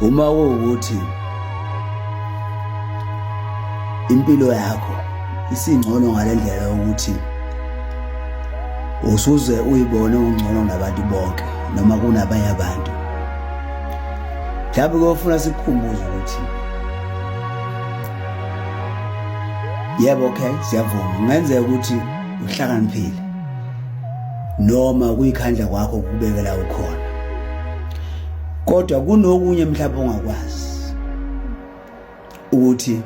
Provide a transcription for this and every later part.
uma kuwukuthi impilo yakho isingcono ngalendlela yokuthi usuze uyibone ungcono nabantu bonke noma kunabanye abantu mhlawumbe kuyofuna sikukhumbuze ukuthi yebo okay siyavuma kungenzeka ukuthi uhlakaniphile noma kuyikhandla kwakho ukubekela ukhona kodwa kunokunye mhlawumbe ongakwazi ukuthi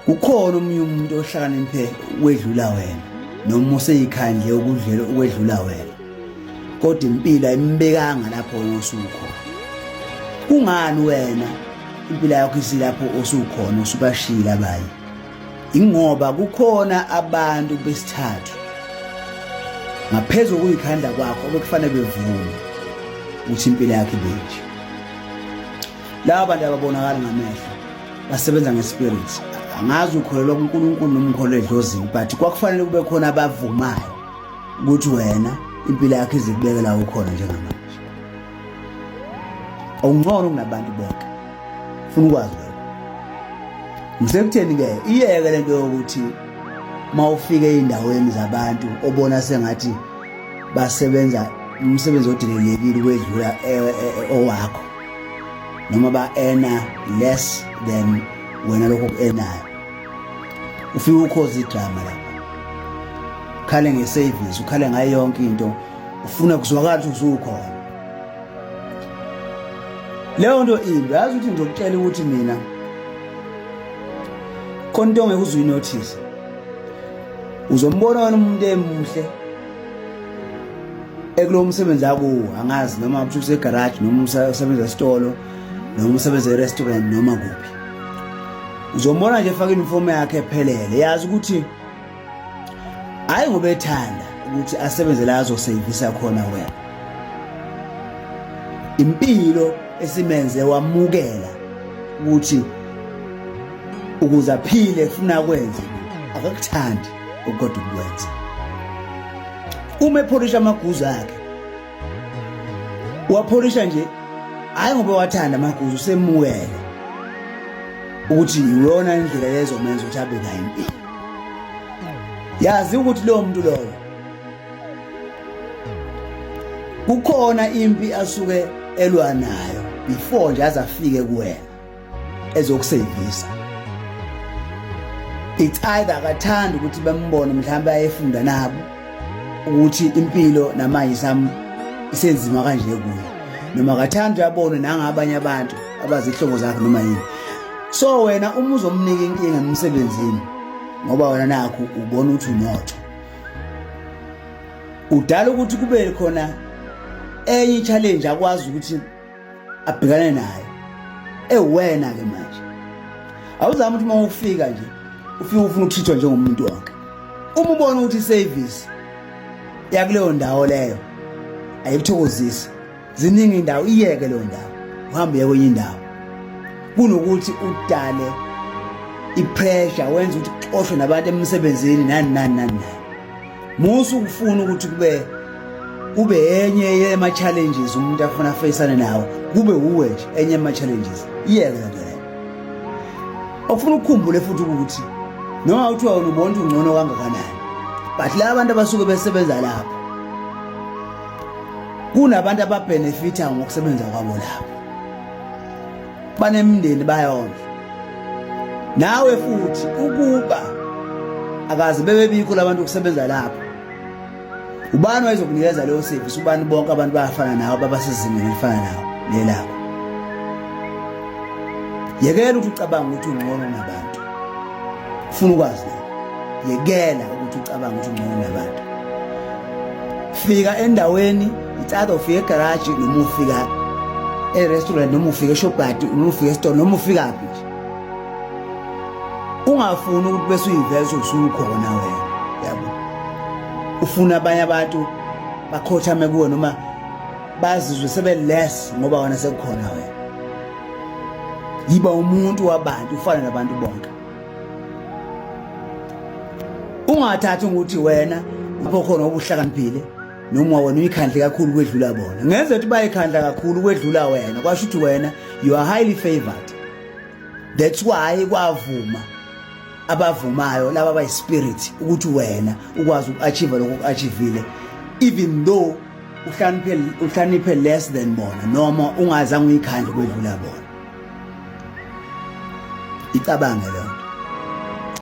ukhona omunye umuntu ohlakaniphe wedlula wena noma useyikhandle ukudlela ukwedlula wena kodwa impilo ayimbekanga lapho wena osukhona kungani wena impilo yakho isilapho osukhona usubashila abanye ingoba kukhona abantu besithathu ngaphezulu kuyikhanda kwakho obekufanele bevume ukuthi impilo yakhe benje laba bantu ababonakala ngamehlo basebenza ngespirit angazi ukholelwa kuNkulunkulu noma ukholelwa edlozini but kwakufanele kube khona abavumayo ukuthi wena impilo yakhe izikubekela ukhona njengamanje awungcono kunabantu bonke funa ukwazi lokho ngisekutheni-ke iyeke le nto yokuthi uma ufike ey'ndaweni zabantu obona sengathi basebenza umsebenzi odelelekile ukwedlula e, e, e, owakho noma ba-ena less than wena lokho ku-enayo ufike ukhoza idrama lapho ukhale ngesevisi ukhale ngayo yonke into ufuna kuzwakala ukuthi usukhona leyo nto imbi yazi ukuthi ngizokutshela ukuthi mina khona into ongeke uze uyinothise uzombona wena umuntu emuhle ekulo msebenzi akuwo angazi noma ukuthi usegaraji noma usebenza esitolo noma usebenza erestaurant noma kuphi uzombona nje efaka inifomu yakhe ephelele yazi ukuthi hayi ngoba ethanda ukuthi asebenze la azoseyivisa khona wena impilo esimenze wamukela ukuthi ukuze aphile funa kwenze akakuthandi ukodwa ukwenza uma epholisha amaguzu akhe wapholisha nje hayi ngoba wathanda amaguzu usemukele ukuthi iyona indlela yezomenza ukuthi abe nayo impilo yazi ukuthi lowo muntu lowo kukhona impi asuke elwa nayo before nje azafike kuwena ezokusevisa it's either akathanda ukuthi bembone mhlawumbe ayefunda nabo ukuthi impilo namanje sam isenzima kanje kuyo noma akathanda uyabona nangabanye abantu abazihlobo zakhe noma yini so wena uma uzomnika inkinga emsebenzini ngoba wena nakho ubona ukuthi unotho udala ukuthi kube khona enye challenge akwazi ukuthi abhekane nayo ewena ke manje awuzama ukuthi uma ufika nje ufike ufuna ukuthithwa njengomuntu wonke uma ubona ukuthi service yakuleyo ndawo leyo ayikuthokozisi ziningi indawo iyeke leyo ndawo uhambe uye kwenye indawo kunokuthi udale ipressure wenza ukuthi uxoshwe nabantu emsebenzini nani nani nani musu ukufuna ukuthi kube kube enye yema challenges umuntu afuna afeyisane nawo kube uwe nje enye yema challenges iyeke ngeke okufuna ukukhumbule futhi ukuthi noma uthiwa wena ubona ukuthi ungcono kangakanani but la abantu abasuke besebenza lapho kunabantu ababenefitha ngokusebenza kwabo lapho banemindeni bayondla nawe futhi ukuba akaze bebebikho labantu ukusebenza lapho ubani wayezokunikeza leyo service ubani bonke abantu bayafana nawe babasezingeni elifana nawe lelakho yekela ukuthi ucabanga ukuthi ungcono nabantu ufuna ukwazi yekela ukuthi ucabanga ukuthi ungcono nabantu fika endaweni it's ufika egaraji noma ufika e-restaurant noma ufika eshobhadi noma ufika esitolo noma ufikaphi nje ungafuni ukuthi bese uyiveza usukhona wena yabo ufuna abanye abantu bakhothame kuwe noma bazizwe sebeless ngoba wena sekukhona wena yiba umuntu wabantu ufana nabantu bonke ungathathi ukuthi wena lapho khona obuhlakaniphile noma wena uyikhandle kakhulu kwedlula bona ngenze ukuthi bayikhandla kakhulu kwedlula wena kwasho ukuthi wena you are highly favored that's why kwavuma abavumayo laba bayi spirit ukuthi wena ukwazi ukuachieve lokho ukuachievile even though uhlaniphe uhlaniphe less than bona noma ungazange uyikhandle kwedlula bona icabange leyo nto